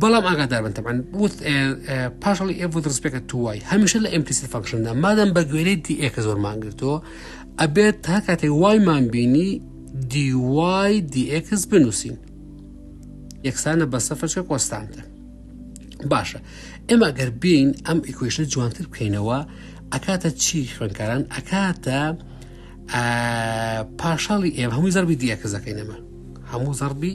بەڵام ئاگاداربن تەبان وت پاشڵی ئێ بۆ دەستپێکە توای هەمیشە لە ئەمپلیسی فەکشندا مادەم بە گوێرەی دی ئێکە زۆرمان گرتەوە ئەبێت تا کاتێک وایمان بینی دیوای دیئکس بنووسین یەکسانە بە سەفەرچە کۆستانتە باشە ئێمە گەر بین ئەم ئیکوشنە جوانتر بکەینەوە ئەکاتە چی خوێنکاران ئەکاتە پاشاڵی ئێم هەمووی زەربی دیەکەزەکەینەمە هەموو زەربی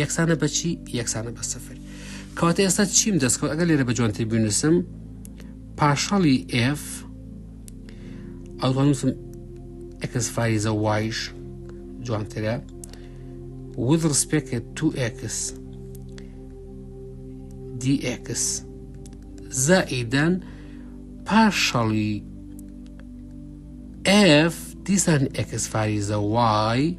یەکسانە بەچی یەکسانە بە سفر کەواتە ئێستا چیم دەستکەوت ئەگەر لێرە بە جوانتر بینوسم پاشەڵی F ئەوڵنووسم ئەکەس فایزە وایش جوانترە with respect to x dx زائیدەن پاشەڵی F دیسان ئەکس فایزە وای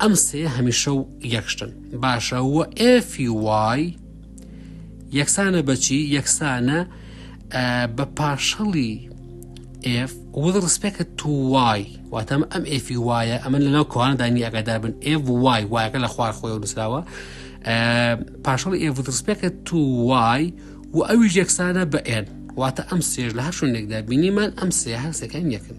ئەم سێ هەمیشە و یەک شتن باشە و ئێفی وای یەکسانە بەچی یەکسانە بە پاشەڵی ئێف وەڵ ڕسپێکە تو وای واتەم ئەم ئێفی وایە ئەمە لەناو کۆوانەدانی ئەگەدا بن ئێف وای وایەکە لە خوار خۆی و نووسراوە پاشەڵی ئێف ڕسپێکە تو وای و ئەوی یەکسانە بە ئێن واتە ئەم سێژ لە هەشونێکدا بینیمان ئەم سێ هەر سەکەن یەکن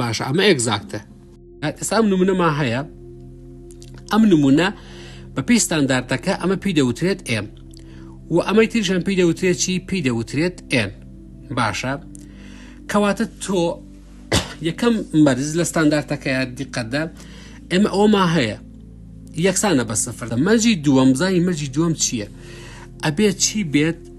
باشە ئەمە ئێگزاکتە ئێستا ئەم نمونەما هەیە ئەم نمونە بە پێی ستاندارتەکە ئەمە پێی دەوترێت ئێم و ئەمەی تریشان پێی دەوترێت چی پێی دەوترێت ئێن باشە کەواتە تۆ یەکەم مەرز لە ستاندارتەکەی دیقەتدا ئێمە ئەوما هەیە یەکسانە بە سفر مەرجی دووەم زانی مەرجی دووەم چییە ئەبێت چی بێت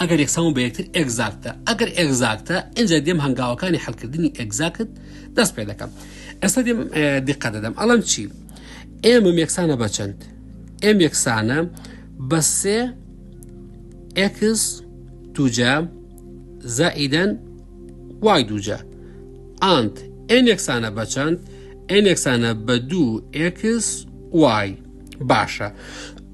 ئەگەر یەکسان و بە یەکتر ئێگزاکتە ئەگەر ئێگزاکتە ئینجا دێم هەنگاوەکانی حلکردنی ئێگزاکت دەست پێ دەکەم ئێستا دێم دیقە دەدەم ئەڵم چی ئێمە یەکسانە بە چەند ئێم یەکسانە بە سێ ئێکس دوجا زائیدەن وای دوجا ئانت ئێن یەکسانە بە چەند ئێن یەکسانە بە دوو ئێکس وای باشە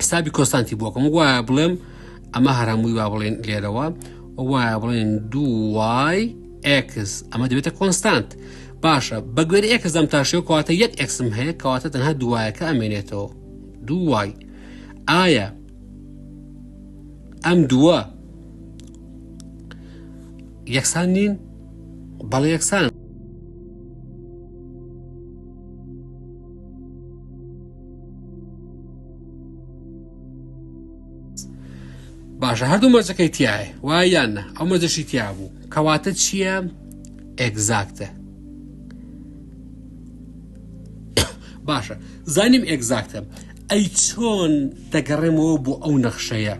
حسابی کۆستانتی بۆکم وایە بڵێم ئەمە هەرهمووی با بڵێن لێرەوە وایە بڵێن دوای ئکس ئەمە دەبێتە کۆنستانت باشە بە گوێر ئکس دەم تاشەوە کەواتە یەک ئەکسم هەیە کەواتە تەنها دوایەکە ئەمێنێتەوە دوای ئایا ئەم دووە یەکسان نین بەڵێ یەکسان باشە هەردوو مەرجەکەی تایە وایان نە ئەو مەجەشی تیا بوو کەواتە چییە ئەگزاکتە باشە زانیم ئەگزاکتە ئەی چۆن دەگەڕێمەوە بۆ ئەو نەخشەیە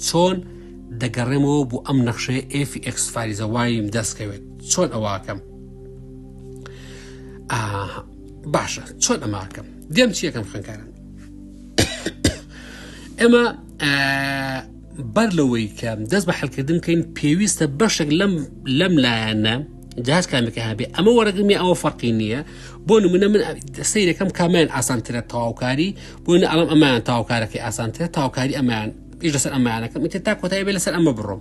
چۆن دەگەڕێمەوە بۆ ئەم نەخشەیە ئفی ئەکسفاریزە وایم دەستکەوێت چۆن ئەوواکەم باشە چۆن ئەماکەم دێم چیەکەم خوێنکارن ئێمە بەر لەوەی کە دەست بە حلکردن بکەین پێویستە بەشێک لەم لەم لایەنە جاش کامەکە هەبێ ئەمە وەرەگرمی ئەوە فەرقی نییە بۆ نمونە من سیرەکەم کامیان ئاسانترە تاواکاری بۆن ئەڵم ئەمان تاوکارەکەی ئاسانترە تاوکاری ئەمان پیش لەسەر ئەمانەکەم تێ تا کۆتایی بێ لەسەر ئەمە بڕۆم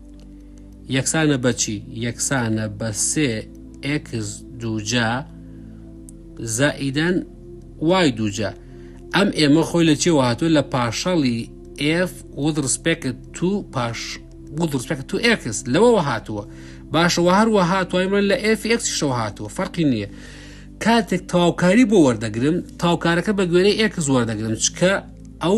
یەکسانە بە چی؟ یەکسانە بە سێ ئێکس دووجا زائیدەن وای دووجا ئەم ئێمە خۆی لە چێوە هاتووە لە پاشەڵی ئف وذ ڕسپێکت تو پاش وذ ڕسپێکت تو ئێکس لەوەوە هاتووە باشەوە هەروە هاتوای من لە ئف ئێکسیشەوە هاتووە فەرقی نییە کاتێک تاوکاری بۆ وەردەگرم تاوکارەکە بە گوێرەی ئێکس وەردەگرم چکە ئەو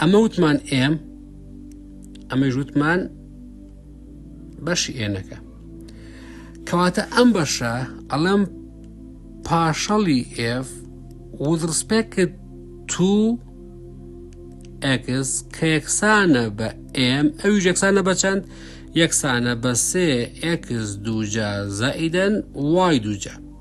ئەمە وتمان ئێم ئەمە ژوتمان بەشی ئێنەکە کەواتە ئەم بەشە ئەڵم پاشەڵی ئێف وزڕسپێکت تو ئەکس کە یەکسانە بە ئێم ئەوی یەکسانە بە چەند یەکسانە بە سێ ئەکس دووجا زائیدەن وای دووجە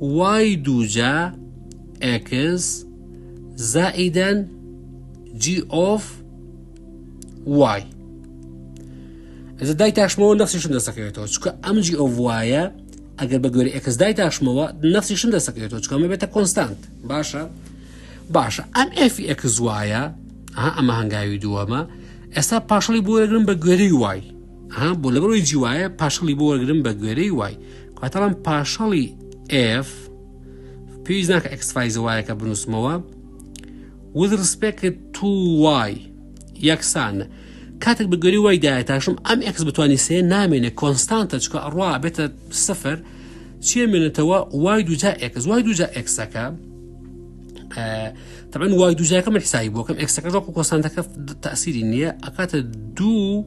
وای دووجا ئێکس زائیدەن جی ئۆف وای ئەجە دای تاشمەوە نەخسیشم دەسەکەوێتەوە چکە ئەم جی ئۆف وایە ئەگەر بە گوێرە ئێکس دای تاشمەوە نەخسیشم دەسەکەوێتەوە چکەمە بێتە کۆنستانت باشە باشە ئەم ئەفی ئێکس وایە ئەمە هەنگاوی دووەمە ئێستا پاشڵی بۆ یەگرم بە گوێری وای ها بۆ لەبەر ئەوی جی وایە پاشەڵی بۆ وەرگرم بە گوێرەی وای کاتەڵم پاشەڵی ئف پێویست ناکە ئەکسفایزە وایەکە بنووسمەوە وز ڕسپێکت تو وای یەکسان کاتێک بە گوێری وای دایە تاشم ئەم ئەکس بتانی سێ نامێنێ کۆنستانتە چکە ئەڕوا بێتە سفر چیە مێنێتەوە وای دوجا ئەکس وای دوجا ئەکسەکە تەبەن وای دوجاکە من حسایی بۆکەم ئەکسەکە ڕۆک و کۆسانتەکە تاسیری نییە ئەکاتە دوو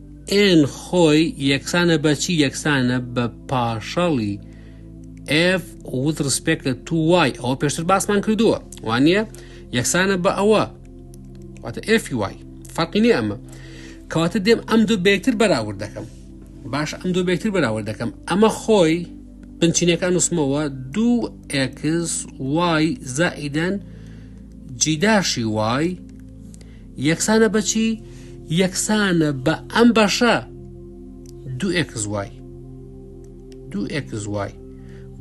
ئێن خۆی یەکسانە بە چی؟ یەکسانە بە پاشەڵی ئێف وت ڕسپێک لە تو وای ئەوە پێشتر باسمان کردووە وانە یەکسانە بە ئەوە واتە ئێفی وای فەرقی نیە ئەمە کەواتە دێم ئەم دوو بێکتر بەراورد دەکەم باش ئەم دوو بێکتر بەراورد دەکەم ئەمە خۆی بنچینەکان نووسمەوە دوو ئەکس وای زائیدەن جیداشی وای یەکسانە بە چی؟ یەکسانە بە ئەم بەشە دوو ئێکس وای دوو ئێکس وای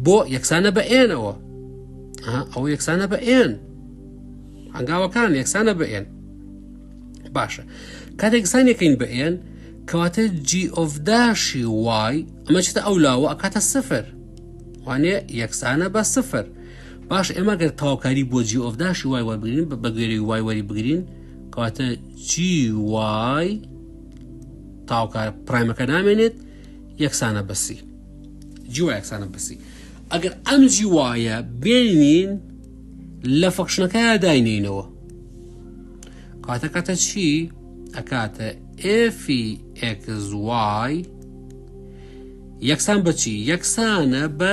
بۆ یەکسانە بە ئێنەوە ئەو یەکسانە بە ئێن هەنگاوەکان یەکسانە بە ئێن باشە کاتێک سانەکەین بە ئێن کەواتە جیئۆفداشی وای ئەمە چتە ئەو لاوە ئەکاتە سفر وانێ یەکسانە بە سفر باش ئێمە گەر تەواوکاری بۆ جی ئۆف داشی وای وەربگرین بە بەگوێری وای وەری بگرین کەواتە جی وای تاوکار پرایمەکە نامێنێت یەکسانە بەسی جی وای یەکسانە بەسی ئەگەر ئەم جی وایە بێنین لە فەخشنەکە داینینەوە کاتە کاتە چی ئەکاتە ئفی ئەکزوای یەکسان بەچی یەکسانە بە